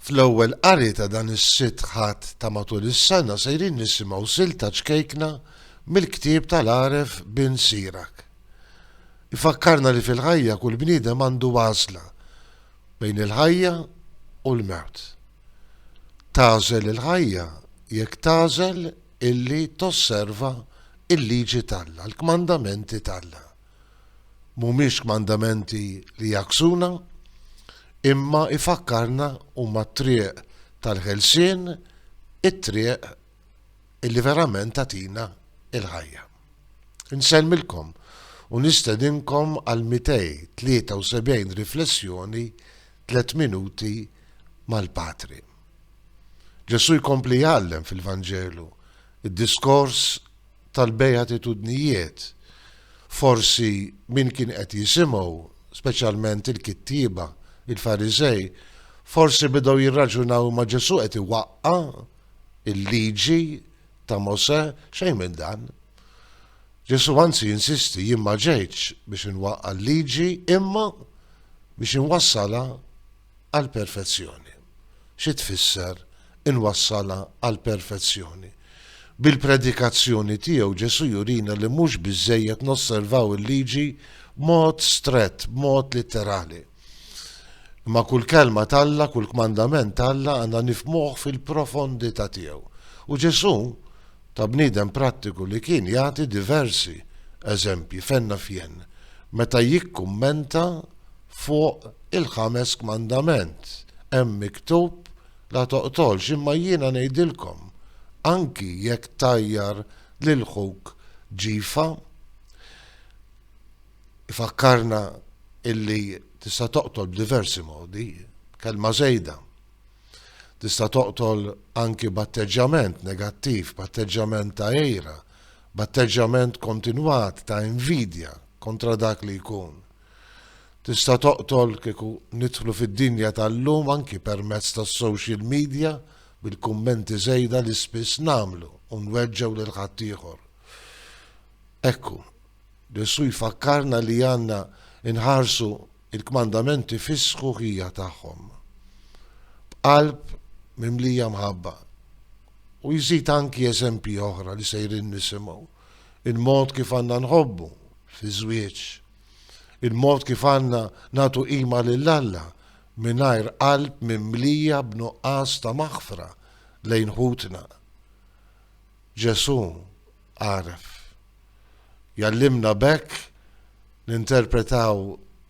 Fl-ewwel qari ta' dan is-Sitt Ħadd ta' matul is-sena sejrin nisimgħu silta ċkejkna mill-ktieb tal-għaref Bin Sirach. Ifakkarna li fil-ħajja kull bniedem għandu għażla bejn il-ħajja u l-mewt. Tagħżel il-ħajja jekk tagħżel illi tosserva l-liġi t'Alla, l-kmandamenti t'Alla. Mhumiex kmandamenti li jagħksuna, imma jfakkarna huma t-triq tal-ħelsien, it-triq illi verament tagħtina l-ħajja. Insellmilkom u nistedinkom għall-273 riflessjoni Tliet Minuti mal-Patri. Ġesù jkompli jgħallem fil-Vanġelu, id-diskors tal-Bejatitudnijiet, forsi min kien qed jisimgħu, speċjalment il-kittieba, il-Fariżej, forsi bidgħu jirraġunaw imma Ġesù qed iwaqqa' l-Liġi ta' Mosè, xejn minn dan. Ġesù anzi jinsisti, jien ma ġejtx biex inwaqqa' l-Liġi imma biex inwassalha għall-perfezzjoni. Xi tfisser inwassalha għall-perfezzjoni? Bil-predikazzjoni tiegħu Ġesù jurina li mhux biżżejjed nosservaw il-liġi b'mod strett, b'mod litterali. Imma kull kelma t'Alla, kull kmandament t'Alla għandna nifmuh fil-profondità tiegħu. U Ġesù, ta' bniedem prattiku li kien, jagħti diversi eżempji fenna fjen meta jikkummenta Fuq il-ħames kmandament hemm miktub, La toqtolx, imma jiena ngħidilkom, anki jekk tgħajjar lil ħuk ġifa, ifakkarna illi tista' toqtol b'diversi modi, b'kelma żejda. Tista' toqtol anki b'atteġġjament negattiv, b'atteġġjament ta' għira, b'atteġġjament kontinwat ta' invidja kontra dak li jkun. Tista' toqtol kieku nidħlu fid-dinja tal-lum anki permezz tas-social media bil-kummenti żejda li spiss nagħmlu u nweġġgħu lil ħaddieħor. Ekku, Ġesù jfakkarna li għandna nħarsu il-kmandamenti fis-sħuħija tagħhom. B'qalb mimlija mħabba. U jżid anki eżempji oħra li sejrin nisimgħu. il-mod kif għandna nħobbu fiż-żwieġ, il-mod kif għandna nagħtu qima lil Alla mingħajr qalb mimlija b'nuqqas ta' maħfra lejn ħutna. Ġesù għaref. Jgħallimna b'hekk ninterpretaw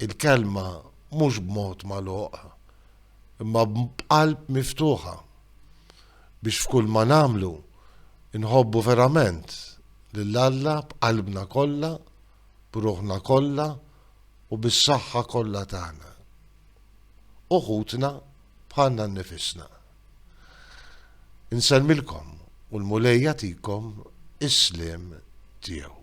il-Kelma mhux b'mod magħluq, imma b'qalb miftuħa. biex f'kull ma nagħmlu nħobbu verament lil Alla b'qalbna kollha, b'ruħna kollha u bis-saħħa kollha tagħna. U ħutna bħalna nnifisna. Insellmilkom u l-Mulej jagħtikom is-sliem tiegħu.